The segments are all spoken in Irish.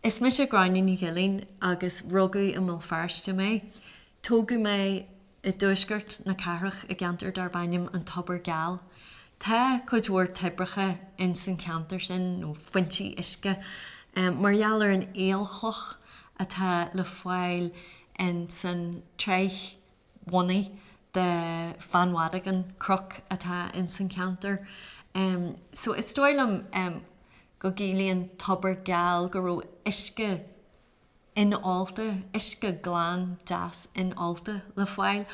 Is mise Gráinne Ní Ghilín agus rugadh i mBéal Feirste mé. Tógadh mé i dtuaisceart na cathrach i gceantar darb ainm An Tobar Geal. Tá cuid mhór toibreacha ins an cheantar sin, nó foinsí uisce, mar gheall ar an aolchloch atá le fáil ins an tsraith bhunaidh de Bheann Mhadagáin, cnoc atá ins an cheantar. So is dóigh liom. go gciallaíonn tobar geal go raibh uisce in-ólta, uisce glan deas in-ólta, le fáil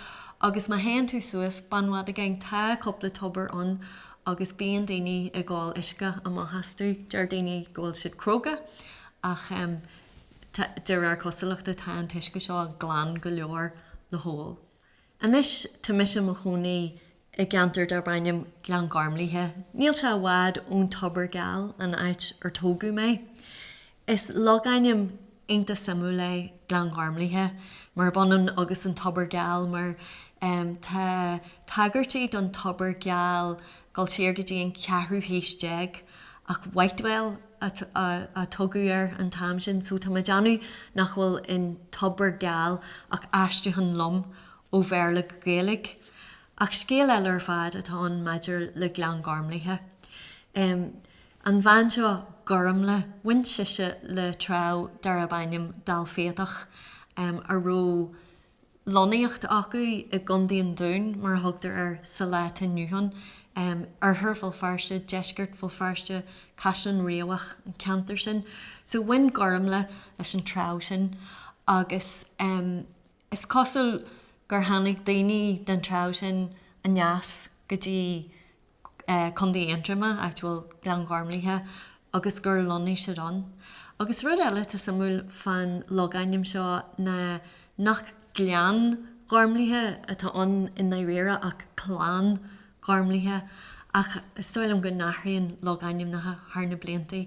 agus má théann tú suas Beann Mhadagáin tá cúpla tobar ann agus bíonn daoine ag ól uisce amach astu. Deir daoine go bhfuil siad cróga ach de réir cosúlachta tá an t-uisce seo glan go leor le hól. Anois tá mise i mo chónaí i gceantar darb ainm Gleann Ghormlaithe. Níl sé i bhfad ón Tobar Geal, an áit ar tógadh mé. Is logainm iontach suimiúil é Gleann Ghormlaithe, murab ionann agus an Tobar Geal, mar tá tagairtí don Tobar Geal ag dul siar go dtí an ceathrú haois déag, ach Whitewell, a tugadh air an t-am sin, so tá mé ag déanamh nach bhfuil in Tobar Geal ach aistriúchán lom ó Bhéarla go Gaeilge. Ach scéal eile ar fad atá ann maidir le Gleann Ghormlaithe. An bhean seo, Gormlaith, bhain sise le treabh darb ainm Dál Fiatach a raibh. lonnaíocht acu i gContae an Dúin, mar a thugtar air sa lá atá inniu ann, Oirthear Bhéal Feirste, Deisceart Bhéal Feirste, Caisleán Riabhach, an ceantar sin. So bhain Gormlaith leis an treabh sin agus is cosúil gur tháinig daoine den treabh sin aneas go dtí Contae Aontroma, áit a bhfuil Gleann Ghormlaithe, agus gur lonnaigh siad ann. Agus rud eile atá suimiúil fán logainm seo ná nach Gleann Ghormlaithe atá ann i ndáiríre ach Clann Ghormlaithe, ach is dóigh liom go n-athraíonn logainmneacha thar na blianta.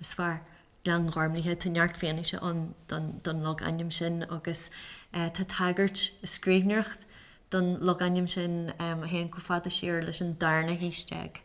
is fearr. Gleann Ghormlaithe, tá neart fianaise ann don logainm sin agus tá tagairt i scríbhneoireacht don logainm sin a théann chomh fada siar leis an darna haois déag.